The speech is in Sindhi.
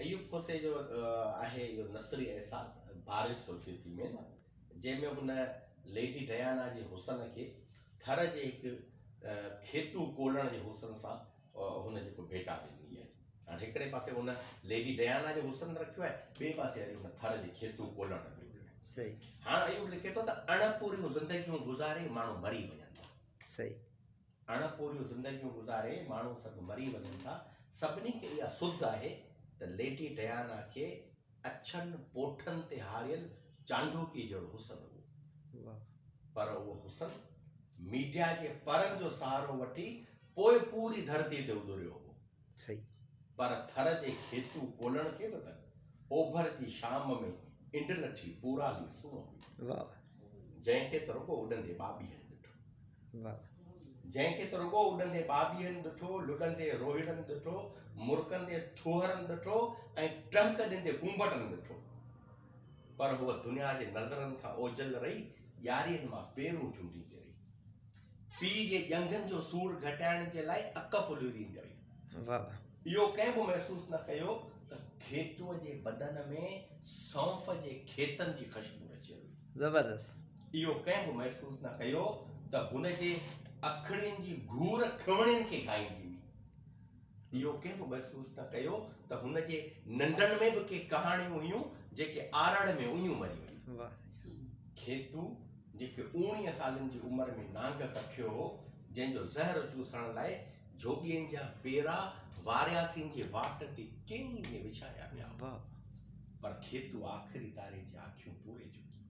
ايوب کوسي جو آهي اهو نثري احساس بارش سوچي ٿي ۾ نه جنهن ۾ هن ليڊي ڊيانا جي حسن کي ٿر جي هڪ کيتو ڪولڻ جي حسن سان هن جيڪو ڀيٽا ڏني آهي هاڻي هڪڙي پاسي هن ليڊي ڊيانا جو حسن رکيو آهي ٻئي پاسي وري هن ٿر جي کيتو ڪولڻ رکيو آهي صحيح هاڻ ايوب لکي ٿو ته اڻپوريون زندگيون گذاري ماڻهو مري وڃن ٿا صحيح اڻ پوريون زندگيون گذاري ماڻهو سڀ مري وڃن ٿا، سڀني کي اها سڌ آهي ته ليٽي ڊيانا کي اڇن پوٺن تي هاريل چانڊوڪيء جهڙو حسن هو. پر اهو حسن ميڊيا جي پرن جو سهارو وٺي پوء پوري ڌرتيء تي اڏريو هو. سهي. پر ٿر جي کيتون ڪولڻ کي به ته اوڀر جي شام ۾ انڊ لٺي پورالي سونهن هئي. واهه واهه. جنهن کي ته رڳو اڏندي ٻاٻيهن ڏٺو. واهه واهه. جنهن کي ته رڳو اڏندي ٻاٻيهن ڏٺو، لڏندي روهيڙن ڏٺو، مرڪندي ٿوهرن ڏٺو ۽ ٽهڪ ڏيندي ڪونڀٽن ڏٺو. پر هوء دنيا جي نظرن کان اوجهل رهي، ڄارين مان پيرون چونڊيندي رهي. پيء جي ڄنگهن جو سور گهٽائڻ جي لاء اڪ ڦليو ڏيندي هئي. اهو ڪنهن به محسوس نه ڪيو ته کيتوء جي بدن ۾ سونف جي کيتن جي خوشبو رچيل هئي. زبردست. اهو ڪنهن به محسوس نه ڪيو ته هن جي اکڙين جي گهور کهوڻين کي گهائيندي هئي. اهو ڪنهن به محسوس نه ڪيو ته هن جي ننڊن ۾ به ڪي ڪهاڻيون هيون جيڪي آرڙ ۾ اڃيون مري ويون. کيتو جيڪي اوڻيهه سالن جي عمر ۾ نانگ ڪکيو هو جنهن جو زهر چوسڻ لاء جوڳين جا پيرا وارياسين جي واٽ تي ڪيني ۾ وڇايا ويا هئا پر کيتو آخري تاري جي آکيون پوري چڪي هئي.